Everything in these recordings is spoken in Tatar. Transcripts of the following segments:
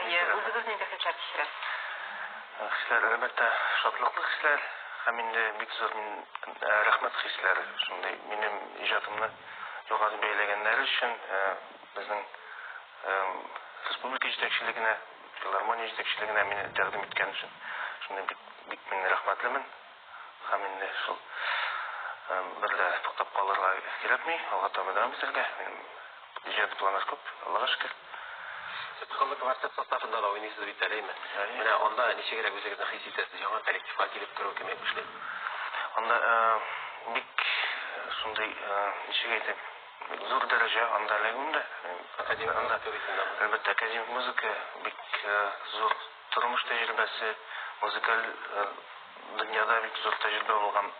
Әйе, үзегез нинди хисләр кичерәсез? Хисләр, әлбәттә, шатлыклы хисләр һәм инде бик зур мин рәхмәт хисләре шундый минем иҗатымны югары бәяләгәннәре өчен безнең республика җитәкчелегенә, филармония җитәкчелегенә мине тәкъдим иткән өчен шундый бик бик мин рәхмәтлемен. Һәм инде шул бер дә туктап калырга кирәкми, алга таба дәвам итәргә. Минем иҗади планнар күп, Аллага шөкер. Сез Кызыл квартет составында да уйныйсыз бит әле, әйме? Әйе. Менә анда ничегрәк үзегезне хис итәсез, яңа коллективка килеп керү кемгә күчте? Анда бик шундый, ничек әйтим, бик зур дәрәҗә анда эләгүем дә. Академик музыка бит анда. Әлбәттә, академик музыка бик зур. Тормыш тәҗрибәсе, музыкаль дөньяда бик зур тәҗрибә булган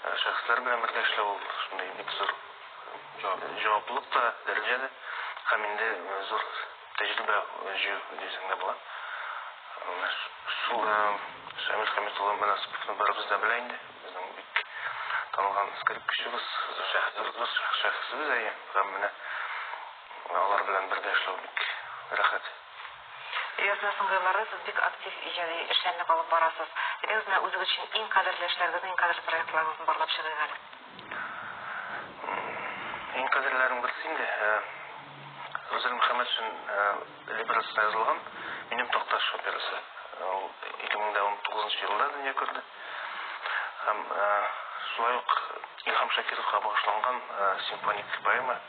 шәхесләр белән бергә эшләү ул шундый бик зур җаваплылык та, дәрәҗә дә һәм инде зур тәҗрибә җыю дисәң дә була. Менә шул Шамил Хәмит улы Мөнасыйповны барыбыз да белә инде, безнең бик танылган скрипкачыбыз, зур шәхесебез, әйе, һәм менә алар белән бергә эшләү бик рәхәт. Рёзна сыңгырлары сез бик актив иҗади эшләрне алып барасыз. Рёзна үзегез өчен иң кадерле эшләрегезне, иң кадерле проектларыгызны барлап чыгыйк әле. Иң кадерлеләрнең берсе инде Рузель Мөхәммәтшин либреттосына язылган Минем Такташ операсы. Ул 2019 елында дөнья күрде. Һәм шулай ук Илһам Шакировка багышланган симфоник поэма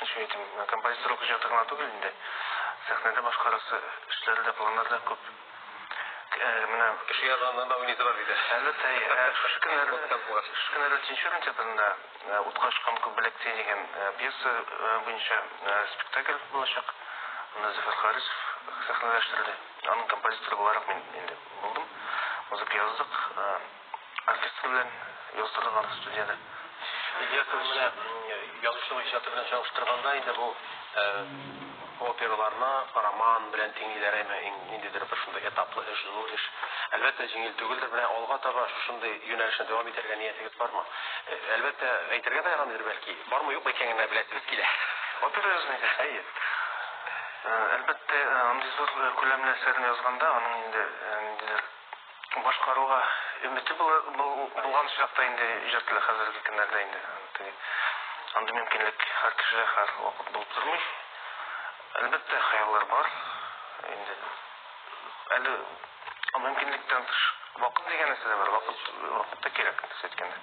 Ничек әйтим, композиторлык иҗаты гына түгел инде, сәхнәдә башкарасы эшләре дә, планнары да күп. Менә кеше язганнан да уйныйсы бар бит. Әлбәттә, шушы көннәрдә, шушы көннәрдә Тинчурин театрында Утка очкан күк беләк тиен дигән пьеса буенча спектакль булачак. Аны Зөфәр Харисов сәхнәләштерде. Аның композиторы буларак мин инде булдым. Музыка яздык. Артистка белән яздырдылар студиядә. Идеясын менә язучының иҗаты белән чагыштырганда, инде бу операларны роман белән тиңлиләр, әмма ниндидер бер шундый этаплы эш, зур эш, әлбәттә, җиңел түгелдер. Менә алга таба шушындый юнәлешне дәвам итәргә ниятегез бармы? Әлбәттә, әйтергә дә ярамыйдыр, бәлки, бармы, юкмы икәнен генә беләсегез килә. Опера язмыйда? Әйе. Әлбәттә, андый зур күләмле әсәрне язганда, аның инде ниндидер. Башкаруга өмете булган чакта инде иҗат килә, хәзерге көннәрдә инде теге андый мөмкинлек һәр кешедә һәр вакыт булып тормый. Әлбәттә, хыяллар бар инде. Әле мөмкинлектән тыш вакыт дигән нәрсә дә бар, вакыт, вакыт та кирәк, кыскасы әйткәндә.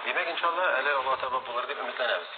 Димәк, иншалла, әле алга таба булыр дип өметләнәбез.